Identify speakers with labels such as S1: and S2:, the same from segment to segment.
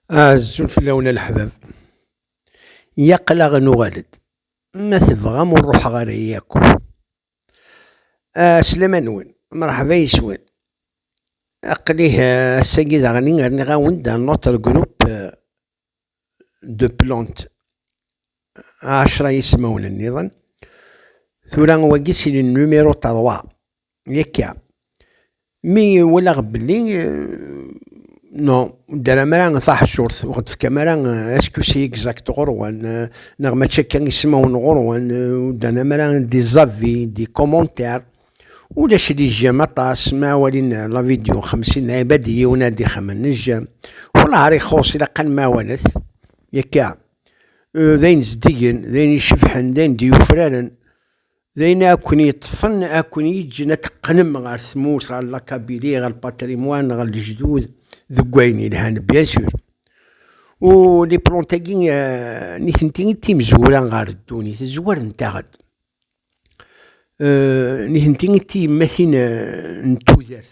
S1: Azul fell-awen a leḥbab. Yaqlaɣ nuɣal-d. Ma tebɣam ur ruḥeɣ ara yakk. Aslama-nwen, mṛeḥba yes-wen. Aql-i ass-agi daɣen rniɣ-awen-d un autre groupe de plantes, ɛecṛa n yismawen nniḍen. Tura wagi si le numéro trois. Yekka. Mi walaɣ belli no ddara mara taḥcurt ur ɣ-d-tefka mara askusi exact ɣur-wen neɣ mačči akka ismawen ɣur-wen ddana mara di zavi di commentaire ulac di jjem aṭas ma walin la vidéo xemsin ɛibad i yiwen ad ixemmen n jjem wallah ara ixuṣ ilaq ad nmawalet yakka d ayen zeddigen d ayen icebḥen d ayen d-yufraren D ayen i aken-yeṭṭfen, i aken-yeǧǧen ad teqqnem ɣer tmurt, ɣer lakabili, ɣer lpatrimwan, ɣer lejdud, deg wayen yelhan, bien sûr. U les plantes-agi, nitenti d timezwura ɣer ddunit, zwarent-aɣ-d. Nitenti d tiyemmatin n tudert.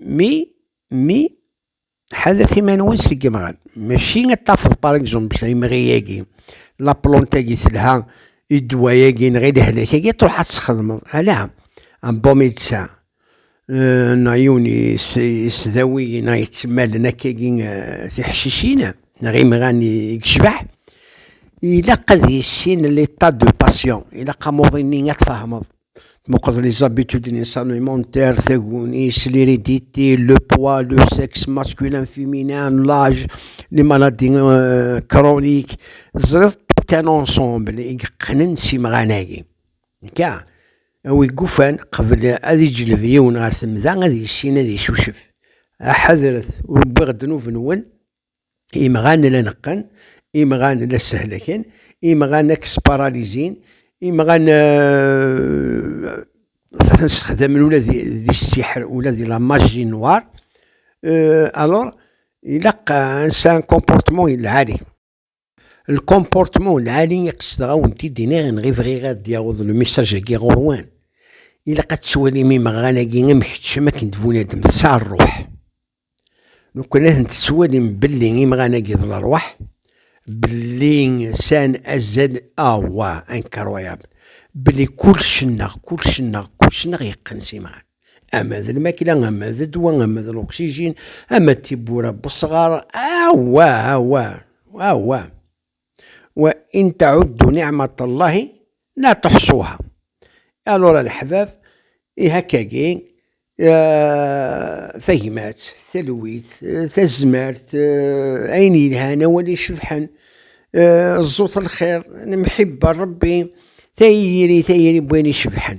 S1: Mi, mi, ḥadret iman-nwen seg yemɣan. Mačči ad tafeḍ par exemple imɣi-agi, la plante-agi telha, i ddwa-agi neɣ i lehlak-agi truḥ ad txedmeḍ. Ala, un bon médecin neɣ yiwen yesdawi neɣ yettemmalen akkagi tiḥcicin neɣ imɣan i yecbeḥ, ilaq ad yissin l'état du patient, ilaq amuḍin-nni ad tfehmeḍ. Tmuqeḍ les habitudes n insan alimentaire, tagunis, l'hérédité, le poids, le sexe masculin, féminin, l'âge, les maladies euh, chroniques. Tzriḍ tout un ensemble i yeqqnen s imɣan-agi. Ka, awi gufan qbel ad iǧleb yiwen ɣer temda ad yissin ad icucef. Ḥadret ur wwiɣ ddnub-nwen Imɣan la neqqen, imɣan la ssehlaken, imɣan la k-sparalizin, imɣan sexdamen ula di ssiḥr, ula di la maji noir. Alors, ilaq un comportement lɛali. Lkomportman lɛali i qesdeɣ a wen-t-id iniɣ inɣ i bɣiɣ ad d-yaweḍ lmissaj-agi ɣur-wen. Ilaq ad tettwalim imeɣɣan-agi am keččem akken d-bunadem, tesɛa rruḥ. Lukan ad ten-tettwalim belli imɣan-agi d lerwaḥ, belli sɛan azal awah, incroyable, belli kulec-nneɣ, kulec-nneɣ, kulec-nneɣ yeqqen s imɣan. ama d lmakla, ama d ddwa, ama d luksijin, ama d tiwwura n wesɣar, awa, awa, awa. Wa in tɛuddu niɛmat Allahi la tuḥṣuha. Alura leḥbab, ihi akkagi, tagmat, talwit, tazmert, ayen yelhan, awal icebḥen, ẓẓut lxir, lemḥibba n Rebbi, tayri, tayri n wayen icebḥen.